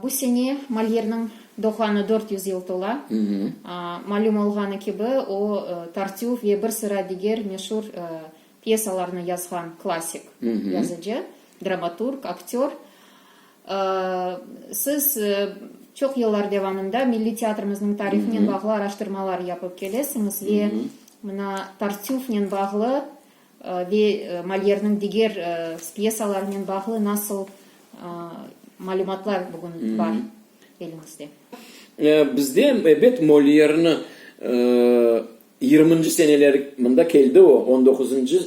Bu sene Molyerniñ doğğanı dört yüz yıl tola. Malüm olğanı kibi, o, Tartüf ve bir sıra diger meşur pyesalarnı yazğan klassik yazıcı, dramaturg, aktör. Siz çoq yıllar devamında milliy teatrımıznıñ tarihinen bağlı araştırmalar yapıp kelesiñiz ve mına Tartüfnen bağlı Ve Molyerniñ diger pyesalarınen bağlı nasıl malümatlar bugün bar eliñizde? Bizde, ebet, Molyerni yirminci seneleri, mında keldi o, on doquzuncı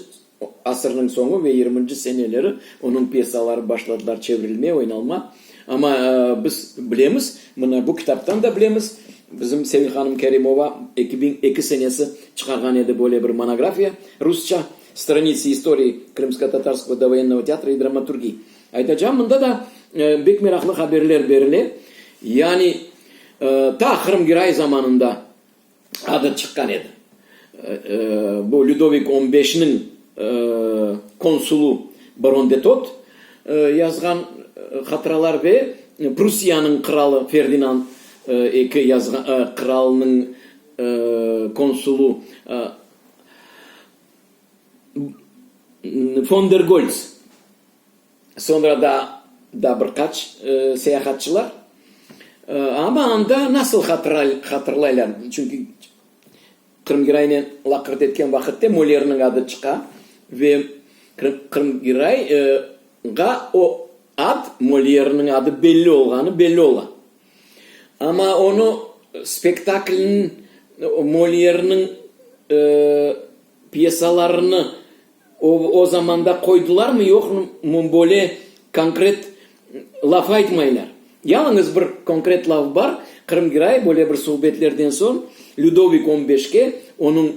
asırnıñ soñu ve yirminci seneleri onıñ pyesaları başladılar çevrilmeye, oynalma. Amma biz bilemiz, mına bu kitaptan da bilemiz, bizim Sevil hanım Kerimova eki biñ eki senesi çıqarğan edi böyle bir monografiya, rusça, Stranitsi istoriyı krımsko-tatarskog dovoyennega teatra i dramaturgiyi. Aytacağım, mında da bek meraqlı haberler berile, yani ta Qırım Girayi zamanında, adı çıqqan edi. Bu Lüdovik on beşniñ konsulı baron de Tot yazğan hatıralar ve Prussiyanıñ qıralı Ferdinand eki yazğan qıralnıñ konsulı Fon der Golts. Soñra da da bir qaç seyahatçılar. Amma anda nasıl hatırlaylar? Çünki Qırım Giraynen laqırt etken vaqıtte Mollerniñ adı çıqa ve Qırım Giray ğa o ad Mollerniñ adı belli olğanı belli ola. Amma onı spektaklniñ Mollerniñ pyesalarını O zamanda qoydılarmı, yoqmı, böyle konkret laf aytmaylar. Yalıñız bir konkret laf bar, Qırım Giray böyle bir subetlerden soñ Lüdovik on beşke, onıñ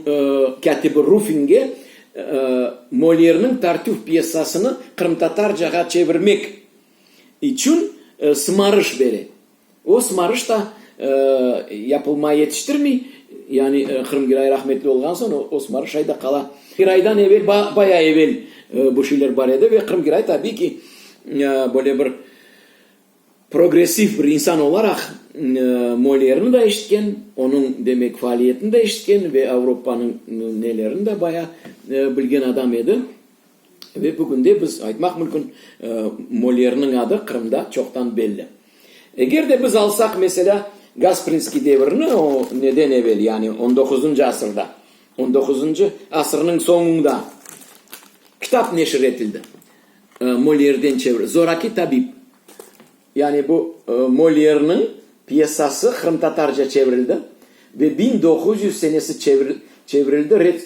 kâtibi Rufinge Molyerniñ Tartüf pyessasını qırımtatarcağa çevirmek içün sımarış bere. O sımarış da yapılma yetiştirmey, yani Qırım Giray rahmetli olğan soñ o sımarış şayda qala. Giraydan evel, bayağı evel bu şeyler bar edi ve Qırım Giray tabiy ki, böyle bir progressiv bir insan olaraq Molierni da eşitken, onıñ demek faaliyetini de eşitken ve Avropanıñ nelerini de bayağı bilgen adam edi. Ve bugün de biz aytmaq mümkün, Molierniñ adı Qırımda çoqtan belli. Eger de biz alsaq, meselâ, Gasprinskiy devirini, o neden evel, yani on doquzıncı asırda, on doquzıncı asırnıñ soñunda kitap neşir etildi, Molierden çevir, Zoraki tabib. Yani bu Molyerniñ pyesası qırımtatarca çevirildi ve biñ doquz yüz senesi çevirildi, red,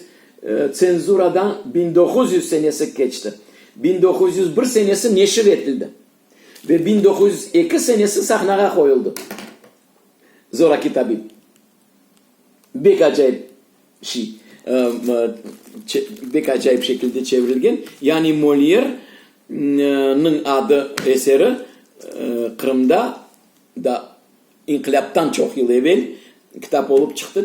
tsenzuradan biñ doquz yüz senesi keçti, biñ doquz yüz bir senesi neşir etildi ve biñ doquz yüz eki senesi sahnağa qoyuldı. Zoraki tabip. bek acayip şey, bek acayip şekilde çevrilgen, yani Molière niñ adı, eseri Qırımda da inqilâptan çoq yıl evel kitap olıp çıqtı.